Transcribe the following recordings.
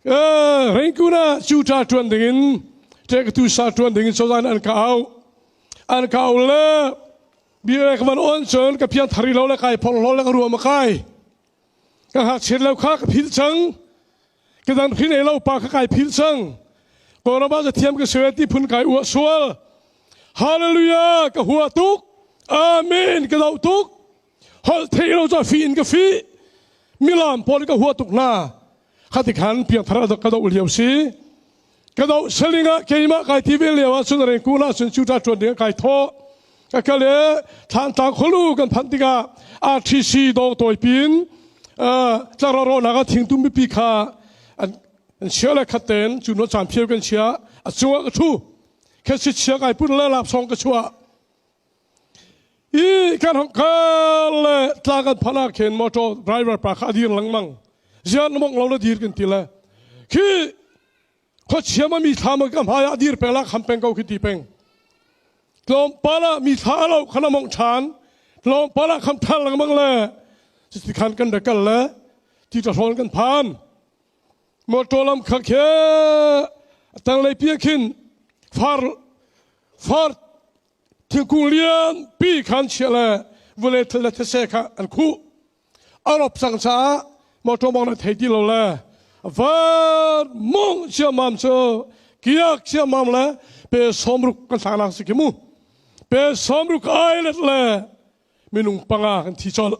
Rengkun ah cuta ṭuan dingin ṭektu sa ṭuan dingin cozan an ka auh. An ka auh le bia le ka van on cun ka pian thari lo le kai phor lo le ka ruam a kai. Ka ngakchiat lo kha ka phil cang. Ka dan hrin ei lo pa kha kai phil cang. Koraba za thiam ka suet ti phun kai ua sual. Hallelujah ka hua tuk. Amen ka do tuk. holh thei lo cu fi in ka fi milam pawl ka hua tuk hna khati khan piangthar ka do lio si ka do seling ah keimah kai ti ve leo ah cun reng ku na cun chu ta tuan ding kai tho ka kale thlan tlang kholu kan phan tika RTC dong toy pin tlaro ro na ka thing tum pi kha an an sia le khaten chu no chan phiu kan sia a chuwa ka thu khe si sia kai pun le lap song ka chua i kan hom ka le tla kan phana khen motor driver pa kha dir langmang zian mong lo le dir kan ti le khi kho chiama mi thama kam haya dir pengla kham peng ko khi ti peng tlom pala mi tha lo khana mong than tlom pala kham than langmang le ti khan kan da kal le ti ta hrol kan phan Mawṭaw lam kha khe a tanglei pi ah khin far far thingkung lianpi khan chiah le vule thil le thetse kha an khuh. A rop cang caah mawṭaw mawng na thei ti lo le van mawng ciammam cu kiak ciammam le pe sawmruk kan thlanak si ki mu. Pe sawmruk ailet le minung panga kan thi colh.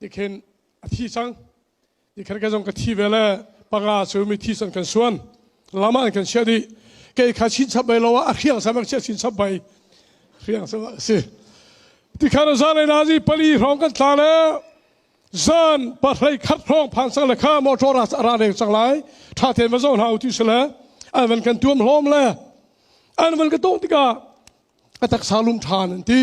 Tikhin a thi cang. Tikhin ka zong ka thi ve le panga cu mithi san kan suan. Lama an kan sia dih. Kei kha chin chap bai lo ah a hriang sa mek sia chin chap bai. Hriang sa a si. Tikhan zan na zi pali hrawng kan tla le zan pahrei khat hrawng phan sang le kha motor ras ara reng sang lai tha ten va zo hna u ti sele an van kan tuam hlom le an van ka tong tikah a taksa lum than an ti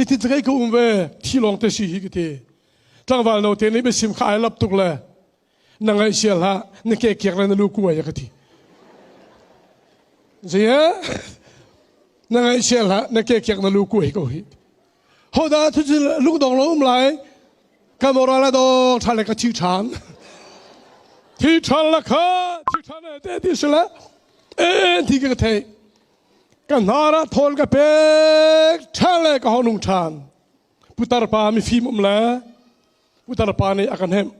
Hitin cakei ka um ve thi lawng te si hi ka ti tlangval no te nih biasim kha ai lap tuk le na ngaih sial ha na ke kiek le na lu kuai ka ti zia na ngaih sial ha na ke kiek na lu kuai ko hi ho da thu cu lung dong lo um lai ka moral la do tha le ka chi than thi than la kha thi than e te ti se la e ti ka thei ka hnar ah thawl ka pek ṭhan le ka honung ṭhan putar pa mifim um le putar pa nih a kan hemh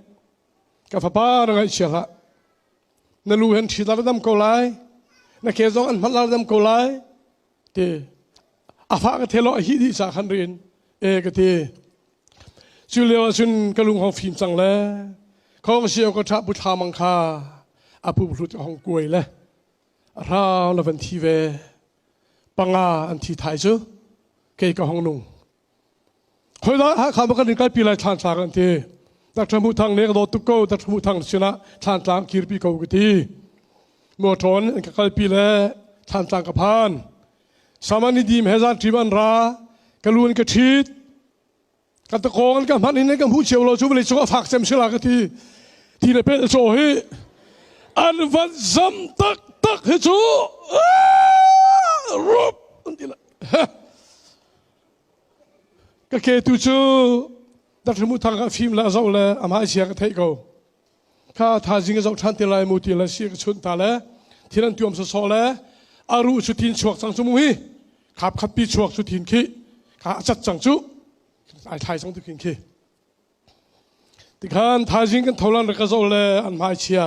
ka fapa na ngaihchia hlah na lu hen ṭhitar dam ko lai na ke zong an hmalar dam ko lai ti a fa ka thelo a hi di sa khan rin e ka ti cu leo cun ka lung hong fim cang le khong sia ko ṭha pu thla mang kha apu hlut hong kuai le a rau la van thi ve panga an thi thai cu kei ka hong nung hoi da hakha ba kan in kalpi lai thlan tlang an ti tak thamu thang ne ka do tuk ko tak thamu thang sinah thlan tlang kirpi ko ka ti mo thon an ka kalpi le thlan tlang ka phan samani dim he zan trim an ra ka lun ka thit ka takong an ka hman in an ka hmu cio lo cu vawlei cung a fak cem sila ka ti ti le pel chaw hi an van zam tak tak hi cu rup an ti la ka ke tu cu Dr. Muthang ka fim la zo le amai sia ka thei ko ka thazing a zoh ṭhan te lai mu ti le si ka chunh ta le thil an tuam sawsawh le a ru cu tin chuak cang cu mu hi khap khat pi chuak cu tin khi kha a cat cang cu ai thai cang tu khin khi tikhan thazing kan tholan ra ka zo le an mai chia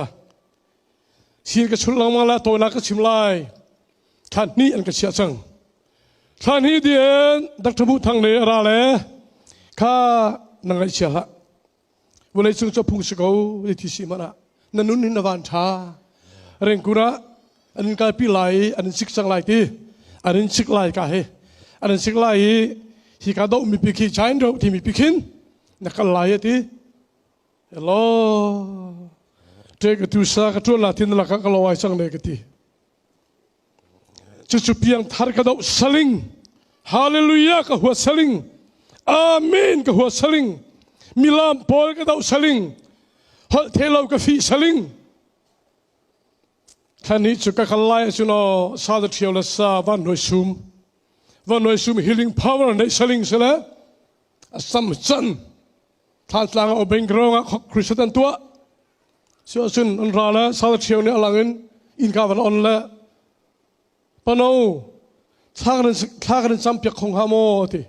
sin ka chun langma la tawla ka chim lai khan ni an ka chia cang thlan hi dien doctor bu thang le ra le kha nang ngai chia hla vawlei cung cu phung si ko ti thi si mana na nun hin na van ṭha rengkur ah an in kalpi lai i an in sik cang lai ti an in sik lai ka hi an in sik lai i hi ka doh mi pi khi chain ro ti mi pi khin na kal lai a ti hello te ka tu sa ka tuan la tin la ka ka lo ai sang ne ka ti cucu piangthar ka do saling hallelujah ka hua saling amen ka hua saling milam paul ka do saling holh thelo ka fi saling thlan ni chu ka kal lai chu no sa the thiêu la sa van noi sum van noi sum healing power nei saling sala asam chan Thlaatlang a bank rong ah Christian an tuah. Sio sun an ra le sal cheu nih alang in inn ka van on le pano thla kan thla kan sam piak khong ha mo ti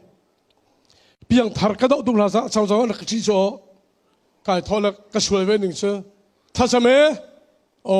piang thar ka do tung la sa chang chang ka chi cho kai thole ka sul ve ning chu thasame o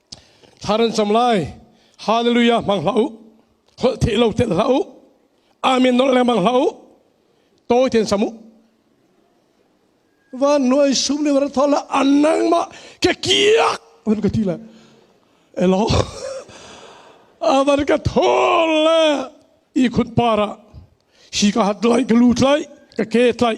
thar an cam lai hallelujah hmang hlah u holh theih lo tel hlah u amen nawl lengmang hlah u tawi ten sam u van nuai sum le war thola anang ma ke kiak van ka ti la elo avan ka thol le i khun para hi ka hat lai ka lut lai ka ke tlai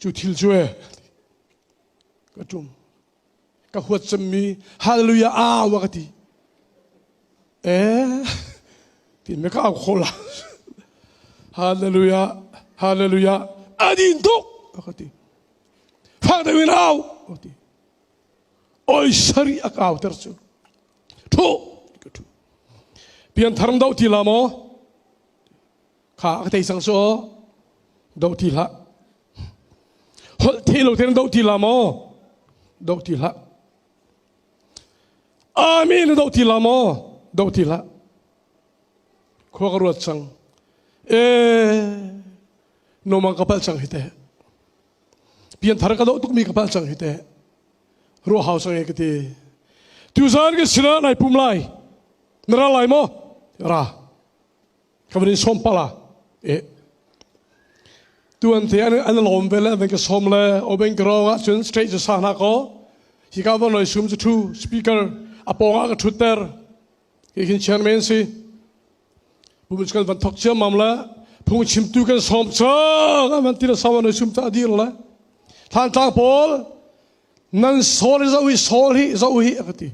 Cu thil cu ka ṭum. Ka huat cemmi hallelujah au a ka ti. Eh, ti me ka au kho la. Hallelujah, hallelujah, adin tuk a ka ti. Fak deuin au a ti. Oi sari a kau ter cu. Ṭhu, ka ṭhu. Pian thar do ti la maw? kha ka thei sang so do ti hla holh the lo ten do ti la mo do ti hla amin do ti la mo do ti hla khua ka ruat sang e no mang kapal sang hi te pian thar ka do tuk mi kapal sang hi te ru hau sang e ka ti tu zan ke sina nai pum lai na ra lai mo ra ka van in sawm pala e tuan te an an lawm vel an ka som le oben grong ah cun straight ca sa na ko hi ka van loi sum thu speaker apong a ka thut ter hi hin chairman si pumut kan van thok chiam mam le phung chim tu kan som chang an van tira sawan loi sum ta dir le than tlang pawl nan sol za ui sol hi za ui a ka ti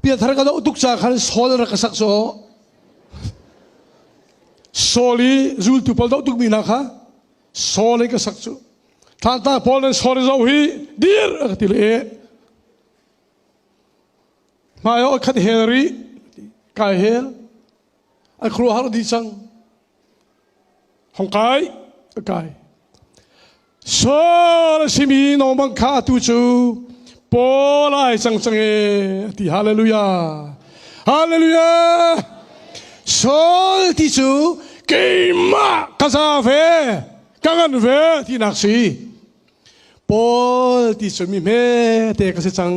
Piathar ka doh tuk ca khan Saul rak ka sak caw. Saul i zultu pawl doh tukmi hna kha Saul i ka sak cu. Thlanta Paul nih Saul i zoh hi dir a ka ti le hmai ah khat hel rih kai hel a khuaruahhar dih cang hong kai a kai sal a simi nongbang kha atu cu paul ai cang cang e ti hallelujah hallelujah sol ti cu keimah ka za ve ka ngan ve tinak si Paul ti cunmi hmete ka si cang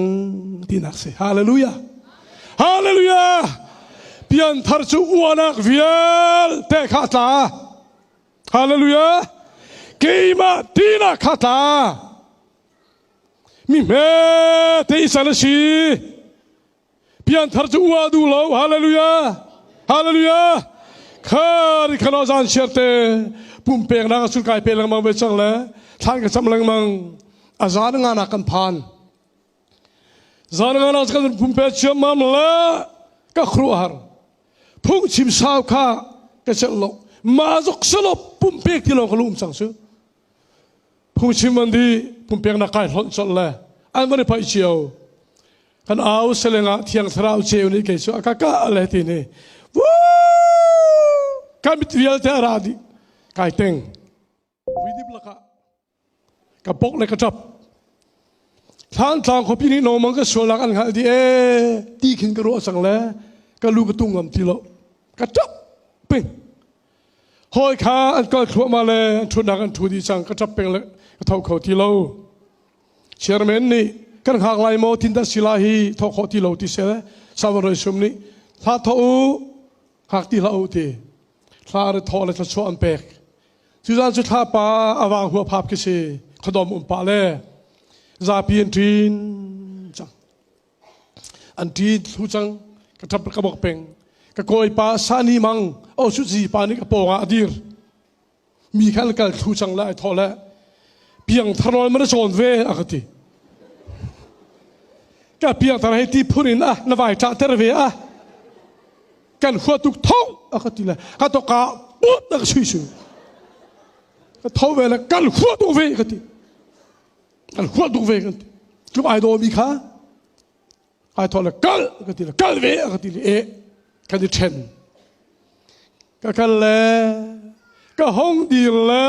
tinak si. Hallelujah. Hallelujah. Pianthar cu uanak vialte kha tla. Hallelujah. Keimah tinak kha tla. Mi hmete i sal si. Pianthar cu ua duh lo. Hallelujah! Hallelujah! Kha ri khano zan sherte pumpek na ka sul kai pe lengmang ve chang le thlan ka cham lengmang a zan nga na kan phan zan nga na kan pumpe chiam mam la ka khru har phung chim sau kha ka chang lo ma zok salo pumpek ti lo ka lum sang chu phungchim an di pumpeknak kai hlonh colh le an kan i paih cio kan au seleng ah thiang thlarau ceu nih kei cu a ka ka le ti ni kan mit vialte a ra dih kai teng vidip lakah ka pok le ka ṭap thlan tlang khuapi nih nomang ka sualak an hngalh di e ti khin ka ruah sang le ka lu ka tung ngam ti lo ka ṭap ping Hawi kha an kal thluahmah le an ṭhutnak an ṭhu dih cang ka ṭap peng le ka tho kho ti lo. Chairman nih kan hngak lai maw tindan si la hi thawk khawh ti lo ti se Salvador Sum nih hla thawh u hak ti hlah u ti hla ar thawh le thluachuah an pek Tuzan cu thla pa awang hua phap khi si khadom um pa le zapi an ṭin cang an ti thlu cang ka thap ka bok peng ka koi pa sani mang o su zi pa ni ka ponga adir mi khan kal thlu cang la tho le piang tharol man chon ve akati ka piang thar hei ti phun in a na vai tha ter ve a kan khua tuk tho akati le ka to ka put tak sui sui ka tho ve le kan khua tuk ve akati kan hual tuk ve kan tlum ai daw mi kha ai thawle kal ka ti le kal ve ka ti le e kan i then ka kal le ka hong dir le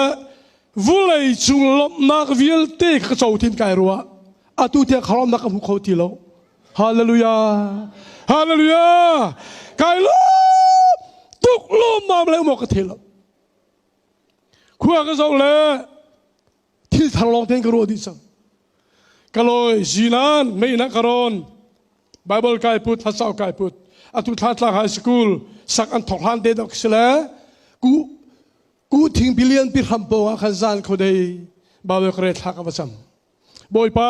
vulei cung lomnak vialte ka co thin kai ruwa atu tiang kharom nak ka hmu kho ti lo hallelujah hallelujah kai lo tuk lo mam le mo ka thelo khua ka zo le thil thar lawng tein ka ruah dih cang ka lawi zinan meinak ka rawn bible kai put hlasau kai put atu thla tlang high school sak an thok hlan te dok sile ku ku thing billion pi hram po a khan zan kho dei bible kre thla ka bacham boipa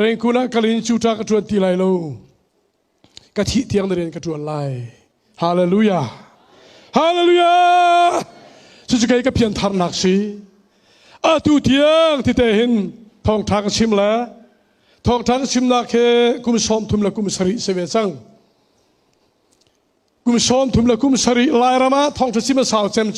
rengkuna kalin chuta ka tuan ti lai lo ka thih tiang na rian ka ṭuan lai. Hallelujah! Hallelujah! Cucu kei ka piantharnak si. Atu tiang tite hin thawngṭha ka chim le thawngṭha ka chimnak he kum sawm thum le kum sarih si ve cang. Kum sawm thum le kum sarih Lairam ah thawngṭha chim a sau cem cu